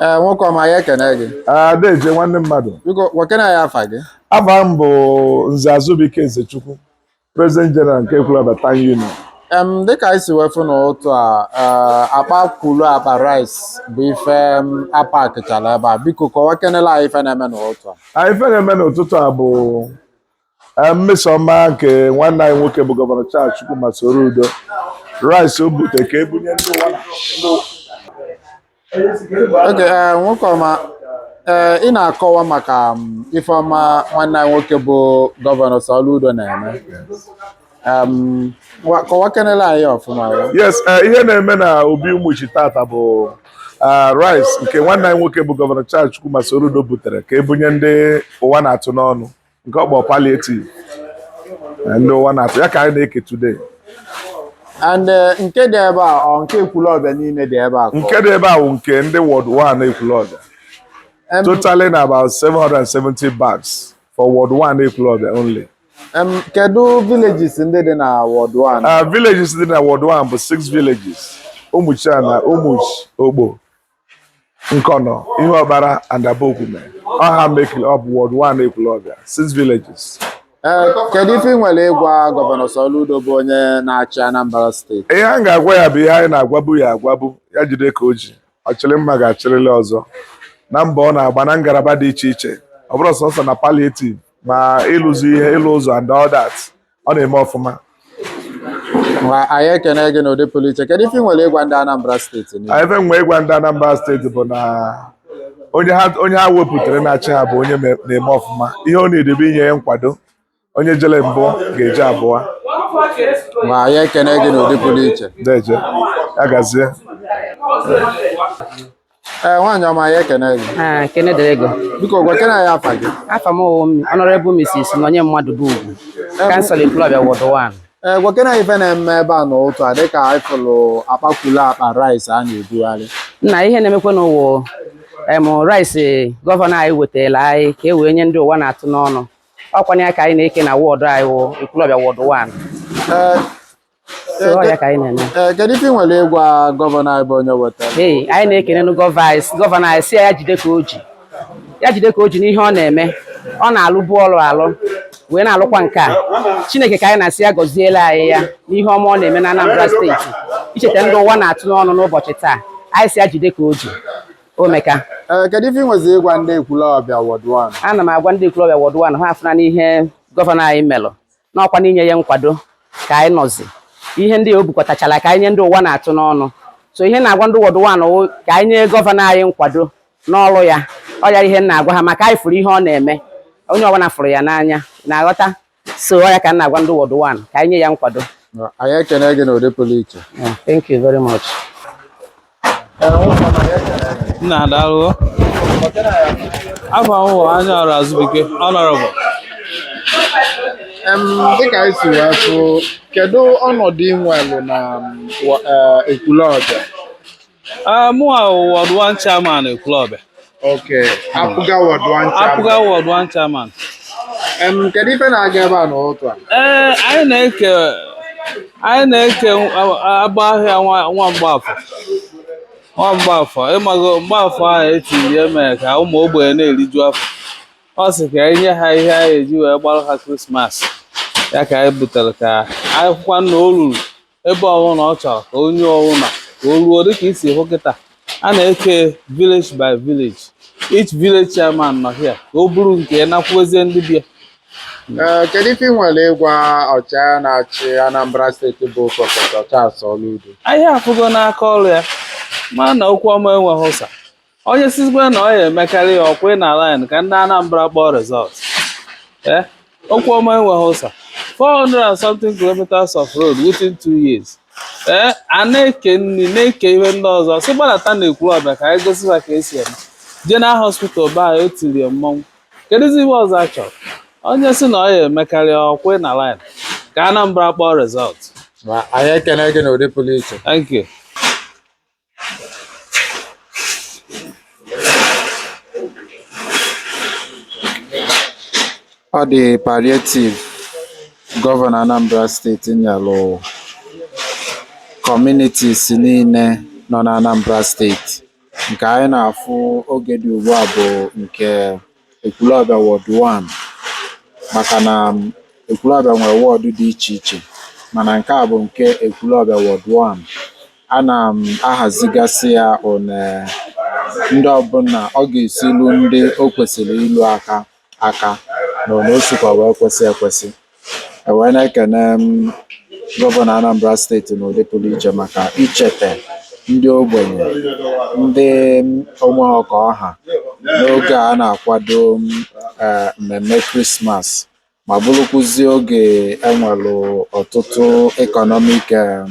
ee nwoke ọma anyị ekene gị ah deje nwanne mmadụ biko gwakene anyị afa gị afa m bụ Nze Azubike Ezechukwu President General nke Ekwulọbịa Town Union em dịka anyị si wee fụ n'ụtụ a ee, akpa kwulu akpa rice bụ ife em, a pakịchala ebe a biko kọwa kenela anyị ife na-eme n'ụtụ a Anyị ife na-eme n'ụtụtụ a bụ mmesoma nke nwanne anyị nwoke bụ gọvanọ Charles Chukwuma Soludo rice o bute ka e bunye ndị ụwa oge eh, nwoke ọma eh, ị na-akọwa maka mm, ife ọma nwanne anyị nwoke bụ gọvanọ Soludo na-eme kọwa kenela anyị ọfụma yes eh, ihe na-eme na Obi Ụmụchi tata bụ Ah, rice nke nwanne anyị nwoke bụ gọvanọ Charles Chukwuma Soludo butere ka e bunye ndị ụwa na-atụ n'ọnụ nke ọ kpọ palliative eh, ndị ụwa na-atụ ya ka anyị na-eke today and eh, nke dị ebe a ọ nke ekwulọbịa niile dị ebe a nke dị ebe a bụ nke ndị ward 1 ekwulọbịa totaling about 770 bags for ward 1 ekwulọbịa only kedu villages ndị dị na ward 1 ah, villages dị na ward 1 bụ 6 villages Ụmụchiana Ụmụchi Okpo Nkọnọ, Ihuọkpala and Abogwume. Ọ ha mekịrị up ward one Ekwulọbịa, six villages. Ee, kedu ife ị nwere ịgwa gọvanọ Soludo bụ onye na-achị Anambra steeti? Ihe anyị ga-agwa ya bụ ihe anyị na-agwabu ya agwabu ya jide ka o ji ọ chịrị mma ga-achịrịrị ọzọ na mbọ ọ na-agba na ngalaba dị iche iche ọ bụrọ sọsọ na palliative ma ịlụzi ihe ịlụ ụzọ and all that ọ na-eme ọfụma Ma anyị ekene gị n'ụdị pụrụ iche kedu ife ị nwere ịgwa ndị Anambra steeti niile? ife m nwe ịgwa ndị Anambra steeti bụ na onye ha onye ha wepụtara na-achị ha bụ onye me- na-eme ọfụma ihe ọ needị bụ inye ya nkwado onye jele mbụ ga-eje abụọ Ma anyị ekene gị n'ụdị pụrụ iche deje ya gazie Ee, nwaanyị ọma anyị ekene gị. Ekene dịrị gị o. Biko gwa kene anyị afa gị. Afa m wụ em Honorable Mrs. Nonye Mmadụbugwu. Councillor Ekwulọbịa Ward 1. Ee, gwa kene anyị ife na-eme ebe a n'ụtụ a dịka anyị fụlụ akpa kwulu akpa rice a na-ebugharị. Nna ihe na-emekwanụ wụ em rice gọvanọ anyị wetara anyị ka e wee nye ndị ụwa na-atụ n'ọnụ. Ọ kwanụ ya ka anyị na-eke na wọdụ anyị wụ Ekwulọbịa Ward 1. Ee, so ọ ya ka anyị na-eme Ee, kedu ife ị nwere ịgwa gọvanọ anyị bụ onye wetara ee anyị na-ekenenụ gọva anyị sị- gọvanọ anyị sị ya jide ka o ji ya jide ka o ji n'ihe ọ na-eme ọ na-alụbu ọrụ alụ wee na-alụkwa nke a chineke ka anyị na-asị ya gọziela anyị ya n'ihe ọma ọ na-eme na anambra steeti icheta ndị ụwa na-atụ n'ọnụ n'ụbọchị taa anyị sị ya jide ka o ji o meka Ee, kedu ife ị nwezi ịgwa ndị ekwulọbịa wọd wan ana m agwa ndị ekwulọbịa wọd wan ha afụnanụ ihe gọvanọ anyị melụ n'ọkwa n'inye ya nkwado ka anyị nọzi ihe ndị a o bukọtachala ka anyị nye ndị ụwa na-atụ n'ọnụ so ihe m na-agwa ndị wọdụ wan ka anyị nye gọvanọ anyị nkwado n'ọrụ ya ọ ya ihe m na-agwa ha maka anyị fụrụ ihe ọ na-eme onye ọbụla fụrụ ya n'anya na-aghọta so ọ ya ka m na-agwa ndị wọdụ wan ka anyị nye ya nkwado anyị ekene gị n'ụdị pụrụ iche thank you very much nna daalụ afa m wụ Anyaọra Azụbike ọnọrọbụ Em, dịka anyị si wee fụ kedu ọnọdụ ị nwelụ na mm, wa- eh, Ekwulọbịa mụwa wọd wan chairman Ekwulọbịa Okay, APGA Ward One Chairman. APGA Ward One Chairman. Um, kedu ife na-aga ebe a n'ụtụtụ a? Ee, eh, anyị na-eke anyị na-eke agba ahịa Nwa Mgbafọ Nwa Mgbafọ ị mago Mgbafọ ahụ e tiri ya mere ka ụmụ ogbenye na-eriju afọ ọ sị ka anyị nye ha ihe anyị ji wee gbaara ha krismas ya ka anyị butere ka anyị hụkwa na o ruru ebe ọwụna ọ chọrọ ka onye ọwụna ka o ruo dịka i si hụ kịta a na-eke village by village each village chairman nọ here ka o buru nke ya nakwuezie ndị be ya Ee, kedu ife ị nwere ịgwa ọchịagha na-achị Anambra steeti bụ prọfesọ Charles Soludo anyị afụgo n'aka ọrụ ya ma na okwu ọma enweghị ụsa onye sịzịkwa na ọ ya-emekarị ya ọ kwụ na line ka ndị Anambra kpọọ result eh? okwu ọma enweghị ụsa 400 and something kilometers of road within two years ee eh? a na-eke nri na-eke ihe ndị ọzọ sị gbadata na Ekwulọbịa ka anyị gosi ha ka e si eme jee na hospital be anyị etirie mmọnwụ kedụzi ihe ọzọ a chọrọ onye sị na ọ ya-emekarị ọ kwụ na line ka Anambra kpọọ result anyị ekene gị n'ụdị pụrụ iche Ọ dị palliative Gọvanọ Anambra steeti nyelụ communities niile nọ n'Anambra steeti. Nke anyị na-afụ oge dị ugbu a bụ nke Ekwulọbịa Ward One maka na Ekwulọbịa nwere wọdụ dị iche iche mana nke a bụ nke Ekwulọbịa Ward One. A na-ahazigasị ya one ndị ọbụna ọ ga-esi lu ndị o kwesịrị ilu aka aka na one o sikwa wee kwesị ekwesị. E wee na-ekene m gọvanọ Anambra steeti n'ụdị pụrụ iche maka icheta ndị ogbenye, ndị o nwe ka ọ ha n'oge a na-akwado m, eh, mmemme Krismas ma bụrụkwụzie oge e nwelụ ọtụtụ economic em,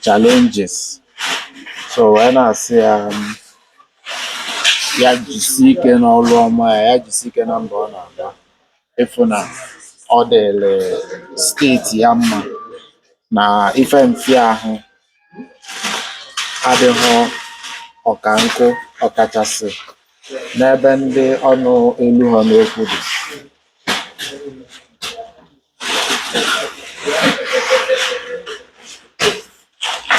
challenges. So wee na-asị ya m, ya jisie ike n'ọrụ ọma ya, ya jisie ike na mbọ ọ na-agba. ịfụ na ọ dịlị steeti ya mma na ife mfiahụ adịhọ ọka nkụ ọkachasị n'ebe ndị ọnụ eluhọ n'okwu dị